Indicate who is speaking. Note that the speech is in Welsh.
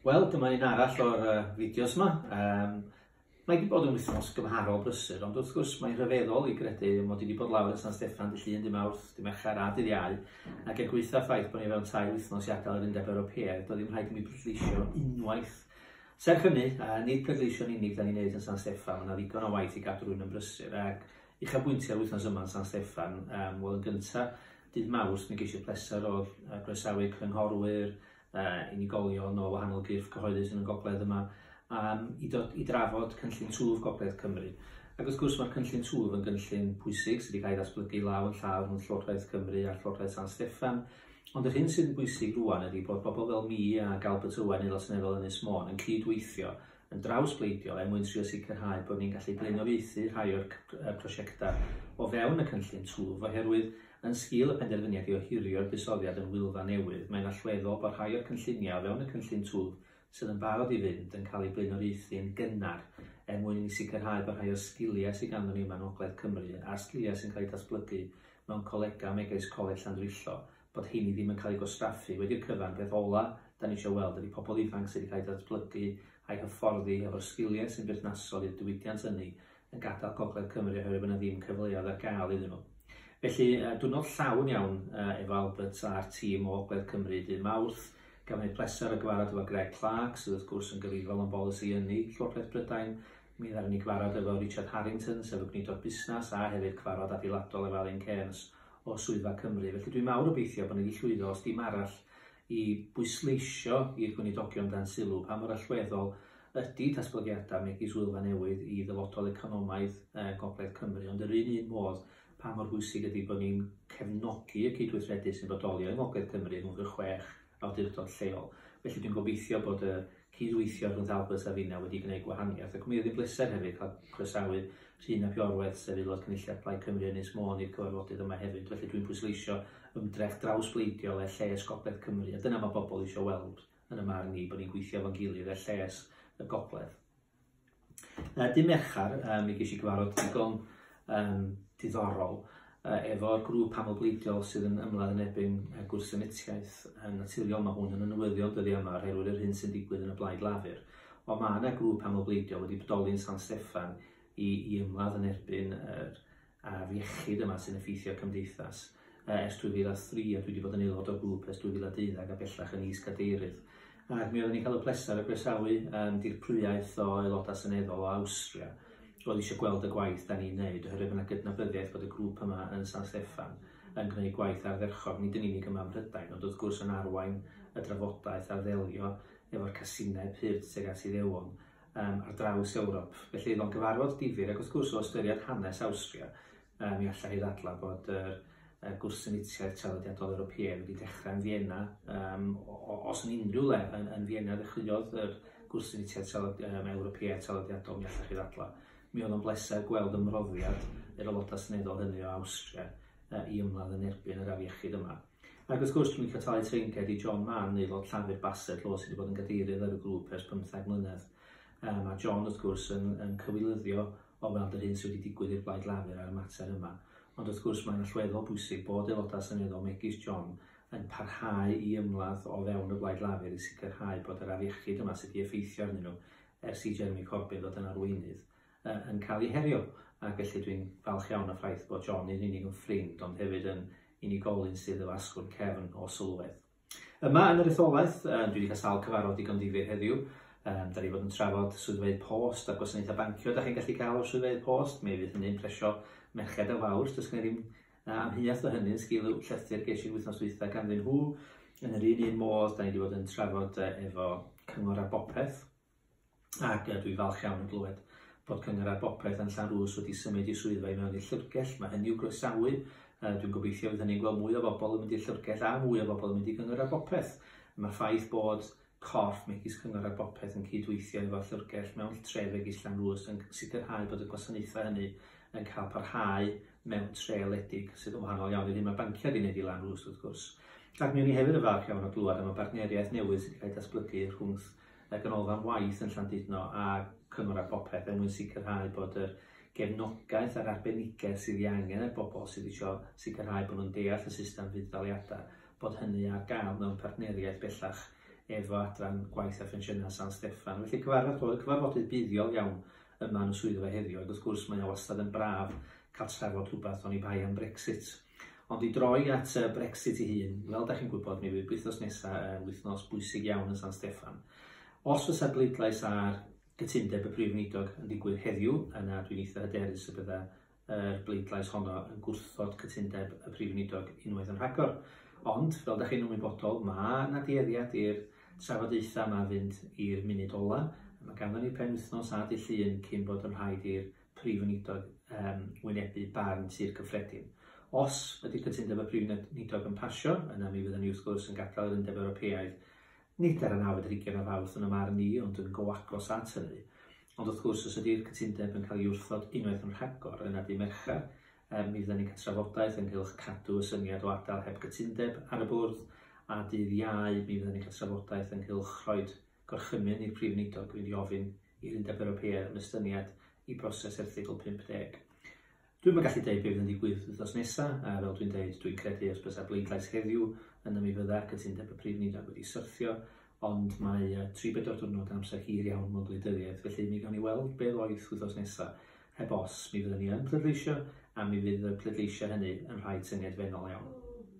Speaker 1: Wel, dyma un arall o'r uh, fideos yma. Um, mae wedi bod yn wythnos gymharol brysur, ond wrth gwrs mae'n rhyfeddol i gredu mod i wedi bod lawr yn San Steffan dy llun, dy mawrth, dy mercher a dydd iau, ac er gweitha ffaith bod ni fewn tair wythnos i adael yr Undeb Ewropeaidd, doedd ddim rhaid i mi brydleisio unwaith. Serch hynny, a nid pleidleisio'n unig da ni'n neud yn San Steffan, mae yna ddigon o waith i gadw rhywun yn brysur, ac uchafbwyntiau'r wythnos yma yn San Steffan, um, wel yn gyntaf, dydd mawrth, mi geisio pleser o groesawu cynghorwyr, uh, unigolion o wahanol gyrff cyhoeddus yn y gogledd yma um, i, dod, i drafod cynllun twf Gogledd Cymru. Ac wrth gwrs mae'r cynllun twf yn gynllun pwysig sydd wedi cael ei ddatblygu law yn llaw rhwng Llywodraeth Cymru a Llywodraeth San Steffan. Ond yr hyn sydd yn bwysig rwan ydy bod bobl fel mi a Galbert Owen, aelod seneddol Ynys Môn, yn cyd-weithio yn draws bleidiol er mwyn trio sicrhau bod ni'n gallu blaenoriaethu rhai o'r prosiectau o fewn y cynllun twf oherwydd Yn sgil y penderfyniad i ohirio'r buddsoddiad yn Wylfa Newydd, mae'n allweddol bod rhai o'r cynlluniau o fewn y cynllun twf sydd yn barod i fynd yn cael eu blaenoriaethu yn gynnar er mwyn i ni sicrhau bod rhai o'r sgiliau sydd ganddon ni yma yng Ngogledd Cymru a'r sgiliau sy'n cael eu datblygu mewn colegau megis Coleg Llandrillo bod heini ddim yn cael eu gwastraffu wedi'r cyfan. Peth ola' 'dan ni isio weld ydi pobl ifanc sydd wedi cael eu datblygu a'u hyfforddi hefo'r sgiliau sy'n berthnasol i'r diwydiant ynni yn gadael Gogledd Cymru oherwydd bod yna ddim cyfleoedd ar gael iddyn nhw. Felly, uh, diwrnod llawn iawn uh, efo Albert a'r tîm o Ogledd Cymru dy Mawrth. Gafon ni pleser o gyfarfod efo Greg Clark, sydd wrth gwrs yn gyfrifol am bolisi ynni Llywodraeth Brydain. Mi ddaren ni gyfarfod efo Richard Harrington, sef y gwneidog busnes, a hefyd cyfarfod adeiladol efo Alun Cairns o Swyddfa Cymru. Felly dwi'n mawr obeithio bod ni wedi llwyddo os dim arall i bwysleisio i'r Gweinidogion dan sylw pa mor allweddol ydy datblygiadau megis Wylfa Newydd i ddyfodol economaidd Gogledd Cymru, ond yr un un modd pa mor bwysig ydy bod ni'n cefnogi y cydweithredu sy'n bodoli yng Ngogledd Cymru rhwng y chwech awdurdod lleol. Felly dwi'n gobeithio bod y cyd-weithio rhwng Dalbert a finna wedi gwneud gwahaniaeth ac mi oedd hi'n bleser hefyd cael croesawu Rhun ap Iorwerth sef Aelod Cynulliad Plaid Cymru Ynys Môn i'r cyfarfodydd yma hefyd felly dwi'n pwysleisio ymdrech drawsbleidiol er lles gogledd Cymru a dyna mae bobl eisiau weld yn 'y marn i bod ni'n gweithio efo'n gilydd er lles y gogledd. Uh, dim Merchar, uh, mi ges i gyfarfod digon um, diddorol uh, efo'r grŵp amlbleidiol sydd yn ymladd yn ebyn uh, gwrthsynitiaeth. Um, naturiol mae hwn yn newyddion dyddi yma o'r herwydd yr hyn sy'n digwydd yn y blaid lafur. Ond mae yna grŵp amlbleidiol wedi bodoli'n San Steffan i, i ymladd yn erbyn yr, ar iechyd yma sy'n effeithio cymdeithas ers 2003 a dwi wedi bod yn aelod o'r grŵp ers 2012 a bellach yn is-gadeirydd. Ac mi oeddwn i'n cael y pleser o groesawu um, dirprwyaeth o aelodau seneddol o Awstria oedd eisiau gweld y gwaith da ni'n neud oherwydd yna gydnabyddiaeth bod y grŵp yma yn San Steffan yn gwneud gwaith ardderchog, nid yn unig yma ym Mhrydain, ond wrth gwrs yn arwain y drafodaeth ar ddelio efo'r casineb hyd tuag at Iddewon ar draws Ewrop. Felly oedd o'n gyfarfod difyr ac wrth gwrs o ystyried hanes Awstria, mi allai hi ddadlau bod yr y gwrthsynitiaeth traddodiadol Ewropeaidd wedi dechrau yn Fienna. Um, os yn unrhyw le yn, yn Fienna ddechreuodd yr gwrthsynitiaeth tralod, um, Ewropeaidd traddodiadol, mi allai chi ddadlau. Mi oedd o'n bleser gweld ymroddiad yr aelodau seneddol hynny o Awstria uh, i ymladd yn erbyn yr afiechyd yma. Ac wrth gwrs, dwi'n licio talu treinced i John Mann, aelod Llafur Bassetlaw sydd wedi bod yn gadeirydd ar y grŵp ers pymtheg mlynedd. Mae a John, wrth gwrs, yn, yn cywilyddio o weld yr hyn sydd wedi digwydd i'r Blaid Lafur ar y mater yma. Ond wrth gwrs, mae'n allweddol bwysig bod aelodau seneddol megis John yn parhau i ymladd o fewn y Blaid Lafur i sicrhau bod yr afiechyd yma sydd wedi effeithio arnyn nhw ers i Jeremy Corbyn ddod yn arweinydd yn cael eu herio, a felly dwi'n falch iawn o'r ffaith bod John nid yn unig yn ffrind ond hefyd yn unigolyn sydd efo asgwrn cefn o sylwedd. Yma yn yr etholaeth, dwi wedi cael sawl cyfarfod digon difyr heddiw, Um, da ni fod yn trafod swyddfeydd post a gwasanaethau bancio da chi'n gallu cael o'r swyddfeydd post. Mi fydd hynny'n presio merched a fawr. Does gen i ddim uh, amheuaeth o hynny'n sgil y llythyr ges i'r wythnos dwytha ganddyn nhw. Yn yr un un modd, da ni wedi bod yn trafod uh, efo cyngor ar bopeth. ac dwi falch iawn yn glywed bod Cyngor ar Bopeth yn Llanrwst wedi symud i swyddfa i mewn i'r Llyfrgell. Mae hynny i'w groesawu. Dwi'n gobeithio fydd hynny'n gweld mwy o bobl yn mynd i'r Llyfrgell a mwy o bobl yn mynd i Gyngor ar Bopeth. Mae'r ffaith bod corff megis Cyngor ar Bopeth yn cydweithio efo'r Llyfrgell mewn tre megis Llanrwst yn sicrhau bod y gwasanaethau hynny yn cael parhau mewn tre wledig sydd yn wahanol iawn i'r hyn mae banciau wedi gwneud i Lanrwst wrth gwrs. Ac mi o'n i hefyd yn falch iawn o glywed am y bartneriaeth newydd sydd wedi cael ei datblygu rhwngth y Ganolfan Waith yn Llandudno a Cyngor ar Bopeth er mwyn sicrhau bod yr gefnogaeth a'r arbenigedd sydd ei angen er bobl sydd eisiau sicrhau bod nhw'n deall y system fudd-daliadau, bod hynny ar gael mewn partneriaeth bellach efo Adran Gwaith a Phensiynau San Steffan. Felly cyfarfod oedd cyfarfodydd buddiol iawn yma yn y swyddfa heddiw ac wrth gwrs mae o wastad yn braf cael trafod rhywbeth oni bai am Brexit. Ond i droi at y Brexit ei hun, fel da chi'n gwybod, mi fydd wythnos nesaf yn wythnos bwysig iawn yn San Steffan. Os fysa bleidlais ar gytundeb y Prif Weinidog yn digwydd heddiw, yna dwi'n eitha hyderus y bydda yr bleidlais honno yn gwrthod cytundeb y Prif Weinidog unwaith yn rhagor. Ond, fel da chi'n ymwybodol, mae na dueddiad i'r trafodaethau yma fynd i'r munud ola. Mae ganddo ni penwythnos a dydd Llun cyn bod yn rhaid i'r Prif Weinidog yn wynebu barn Tŷ'r Cyffredin. Os ydy cytundeb y Prif Weinidog yn pasio, yna mi fyddan ni wrth gwrs yn gadael yr Undeb Ewropeaidd, nid ar y nawfed ar hugain o Fawrth yn 'y marn i, ond yn go agos at hynny. Ond wrth gwrs, os ydy'r cytundeb yn cael ei wrthod unwaith yn rhagor, yna dydd Mercher, er, mi fyddan ni'n cael trafodaeth ynghylch cadw y syniad o adael heb gytundeb ar y bwrdd, a dydd Iau, mi fyddan ni'n cael trafodaeth ynghylch rhoid Gorchymyn i'r Prif Weinidog fynd i ofyn i'r Undeb Ewropeaidd am estyniad i broses Erthygl 50. Dwi'm yn gallu deud be fydd yn digwydd wythnos nesa, a fel dwi'n deud, dwi'n credu os bysa bleidlais heddiw, yna mi fydda cytundeb y Prif Weinidog wedi syrthio, ond mae tri bedwar diwrnod yn amser hir iawn mewn gwleidyddiaeth, felly mi gawn ni weld be ddoith wythnos nesa. Heb os, mi fyddan ni yn pleidleisio, a mi fydd y pleidleisio hynny yn rhai tyngedfennol iawn.